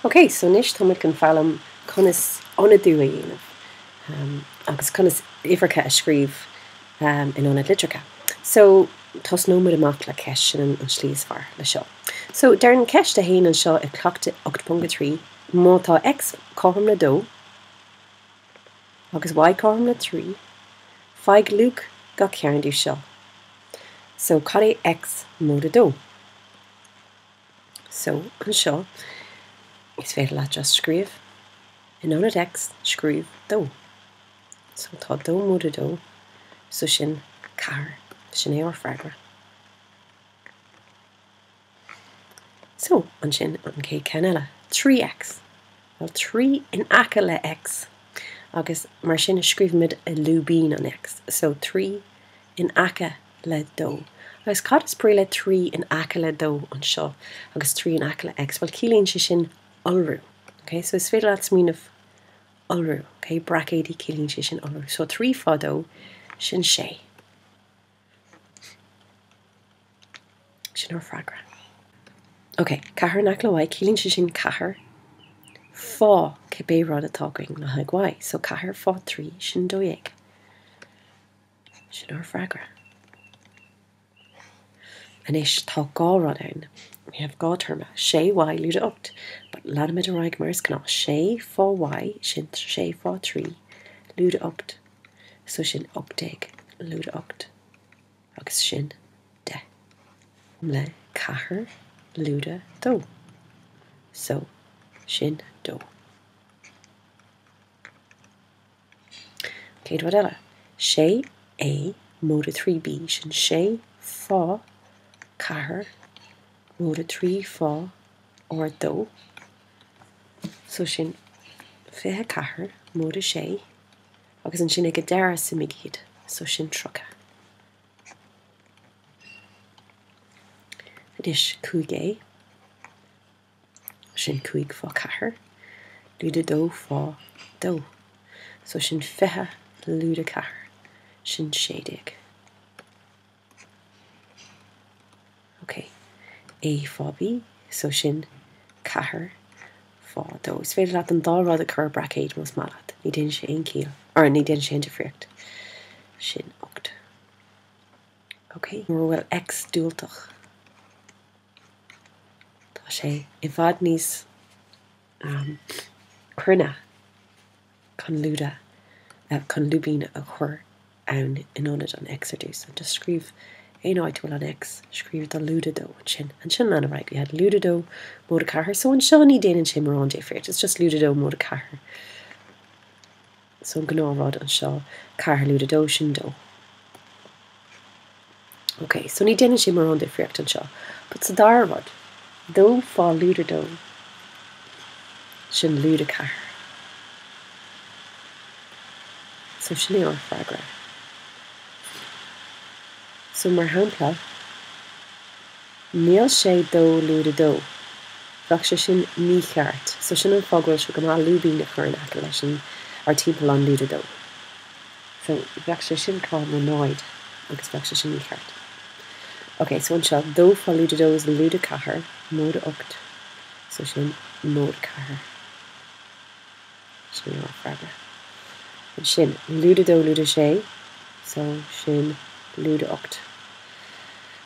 Ok, so anois tá muid chun foghlaim conas ionadú a dhéanamh agus conas uimhreacha a scríobh in ionad litreacha. So, tosnóidh muid amach le ceist sin an tslí is fearr le seo. So, deireann ceist a haon anseo i cleachtadh ocht ponc a trí, má tá X cothrom le dó agus Y cothrom le trí, faigh luach gach ceann díobh seo. So, cad é X móide dó? So, anseo, is féidir leat just scríobh, in ionad X, scríobh dó. So, tá dó móide dó, so sin ceathair. Sin é ár bhfreagra. So, ansin, an chéad ceann eile, trí X. Bhuel, trí in aice le X, agus mar sin, scríobhaimid i lúibín an X. So, trí in aice le dó. Agus cad is brí le trí in aice le dó anseo agus trí in aice le X? Bhuel, ciallaíonn sé sin iolrú. Ok? So is féidir leat smaoineamh iolrú. Ok? Braicéidí, ciallaíonn sé sin iolrú. So trí fá dó, sin sé. Sin ár freagra. Ok, ceathair in aice le Y, ciallaíonn sé sin ceathair fá cibé rud atá againn le haghaidh Y. So ceathair fá trí, sin dó dhéag. Sin ár bhfreagra. Anois tá dhá rud ann. We have dhá téarma, sé Y, lúide ocht, but leanfaimid ar aghaidh mar is gnáth, sé fá Y, sin sé fá trí, lúide ocht, so sin ocht déag, lúide ocht, agus sin deich, le ceathair, lúide dó, so sin dó. Céad rud eile, sé A móide 3B sin 6 fá ceathair móide 3 fá ár dó so sin fiche ceathair móide sé agus ansin ag a deireadh suimigh iad so sin tríocha. Anois, cúig a. sin cúig fá ceathair lúide dó fá dó so sin fiche lúide ceathair sin sé déag ok A fá B so sin ceathair fá dó is féidir leat an dá rud a chur i braicéid más maith leat ní déanann sé aon ciall or ní déanann sé aon difríocht sin ocht ok mura bhfuil X diúltach. Tá sé i bhfad níos cruinne chun lúide, chun lúibín a chur ann in ionad an X ar dtús. Just scríobh aon áit a bhfuil an X, scríobh do lúide dó ansin. Ansin lean ar aghaidh. We had lúide dó móide ceathair. So anseo ní déanann sé mórán difríocht. It's just lúide dó móide ceathair. So an gnáthrud anseo, ceathair lúide dó, sin dó. Ok, so ní déanann sé mórán difríocht anseo. But sa dara rud, dó fá lúide dó, sin lúide ceathair. So sin é ár freagra. So mar shampla. Níl sé dó lúide dó. Bheadh sé sin mícheart, so sin an fáth go bhfuil sé go maith lúibín a chur in aice leis an or timpeall an lúide dó. So bheadh sé sin cothrom le náid agus bheadh sé sin mícheart. Ok, so anseo, dó fá lúide dó is lúide ceathair, móide ocht, so sin móide ceathair. Sin é an freagra. Ansin, lúide dó, lúide sé, so sin lúide ocht.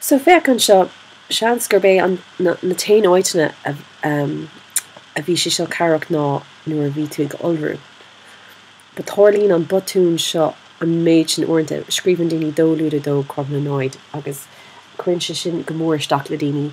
So féach anseo, seans gurb é an, na, na t-aon áiteanna a, um, a bhí sé seo cabhrach ná nuair a bhí tú ag iolrú. But tharlaíonn an botún seo an méid sin uaireanta, scríobhann daoine dó lúide dó cothrom le náid agus cuireann sé sin go mór isteach le daoine